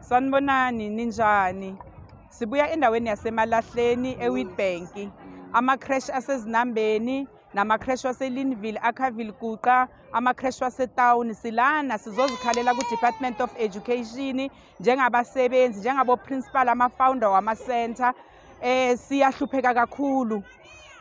Sanibonani ninjani? Sibuya endaweni yaseMalahleni eWitbank. Ama-crash asezinambeni nama-crash waseLinville, Ackerville, Guqa, ama-crash wasetown. Silana sizozikhalela ku-Department of Education njengabasebenzi, njengabo-principal, ama-founder wama-center. Eh siyahlupheka kakhulu.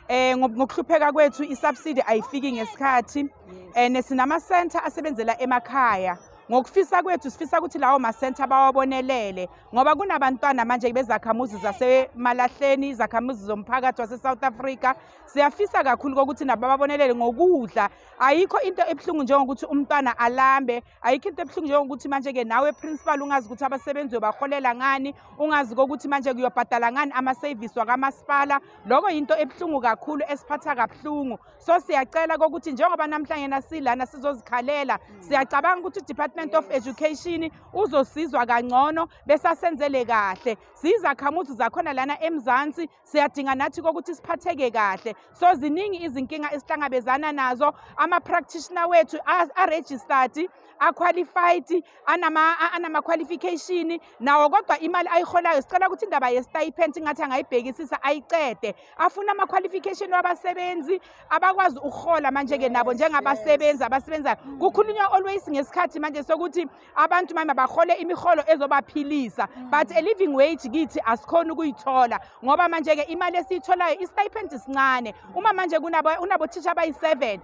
Eh ngokuhlupheka kwethu i-subsidy ayifiki ngesikhathi. And sinama-center asebenzela emakhaya. Ngokufisa kwethu sifisa ukuthi lawo masentha bawabonelele ngoba kunabantwana manje bezakhamuzi zasemalahleni izakhamuzi zomphakathi waseSouth Africa siyafisa kakhulu kokuthi nabo babonelele ngokudla ayikho into ebuhlungu njengokuthi umntwana alambe ayikho into ebuhlungu njengokuthi manje ke nawe principal ungazi ukuthi abasebenzi uyobaholela ngani ungazi kokuthi manje kuyobhadala ngani ama service wakamasipala lokho yinto ebuhlungu kakhulu esiphatha kabuhlungu so siyacela kokuthi njengoba namhlanje nasilana sizozikhalela mm. siyacabanga ukuthi i-department of education uzosizwa kangcono besasenzele kahle sizakhamuzi zakhona lana emzansi siyadinga nathi kokuthi siphatheke kahle so ziningi izinkinga esihlangabezana nazo ama-practitioner wethu aregistered aqualified anama-qualification nawo kodwa imali ayiholayo sicela ukuthi indaba yestipend ingathi angayibhekisisa ayicede afuna ama-qualification wabasebenzi abakwazi ukuhola manje-ke nabo njengabasebenzi abasebenzayo kukhulunywa always ngesikhathi manje sokuthi abantu manje bahole imiholo ezobaphilisa but a living wage kithi asikhona ukuyithola ngoba manje-ke imali esiyitholayo istipend sincane uma manje kunabothisha abayi-seven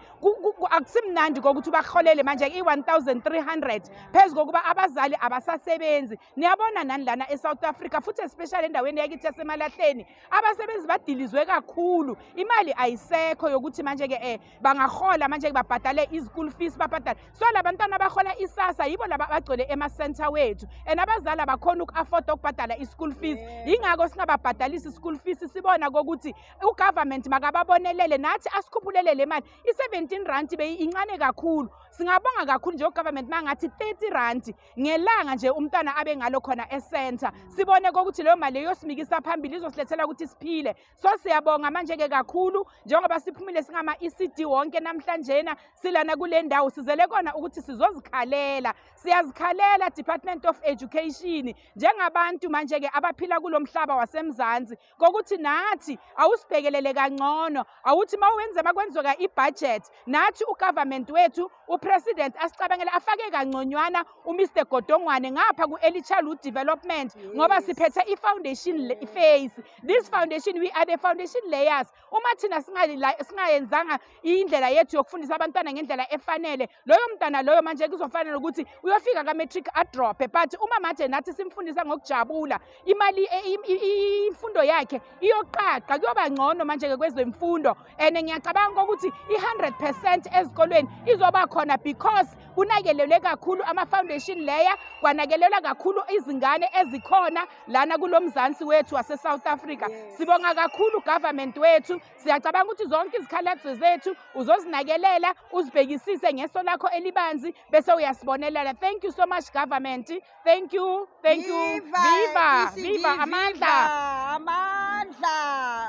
akusimnandi kokuthi ubaholele manje i-1300 phezu kokuba abazali abasasebenzi niyabona nani lana e-south africa futhi especially endaweni yakithi yasemalahleni abasebenzi badilizwe kakhulu imali ayisekho yokuthi manje-ke um bangahola manje-ke babhadale i-school fees babhadale so la bantwana abahola isasa yibo laba abagcwele ema-center wethu and abazali abakhona uku-afoda ukubhadala i-school fees yingakho singababhadalisi i-school fees sibona kokuthi ugovernment makababonelele nathi asikhuphulele le mali i-17 rand beyincane kakhulu singabonga kakhulu nje ugovernment mangathi 30 rand ngelanga nje umntwana abe ngalo khona esenta sibone kokuthi leyo mali eyosimikisa phambili izosilethela ukuthi siphile so siyabonga manje-ke kakhulu njengoba siphumile singama-ecd wonke namhlanjena silana kule ndawo sizele kona ukuthi sizozikhalela siyazikhalela department of education njengabantu manje-ke abaphila kulo mhlaba wasemzansi kokuthi nathi awusibhekelele kangcono awuthi uma wenze uma kwenzeka ibudget nathi ugovernment wethu upresident asicabangele afake kangconywana umr godongwane ngapha ku-early childhood development ngoba siphethe i-foundation phase this foundation we are the foundation layers uma thina singayenzanga indlela yethu yokufundisa abantwana ngendlela efanele loyo mntwana loyo manje kuzofanele ukuthi uyofika ka-matric adrophe but uma manje nathi simfundisa ngokujabula imali e, imfundo yakhe iyoqaqa kuyoba ngcono manje-ke kwezemfundo and ngiyacabanga ukuthi i-hundred percent ezikolweni izoba khona because kunakelelwe kakhulu ama-foundation layer kwanakelelwa kakhulu izingane ezikhona lana kulo mzansi wethu wase-south africa yes. sibonga kakhulu ugovernment wethu siyacabanga ukuthi zonke izikhalazo zethu uzozinakelela uzibhekisise ngeso lakho elibanzi bese uyasibonelela thank you so much government thank you thank viva, you viva e viva amandla amandla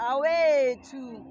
awethu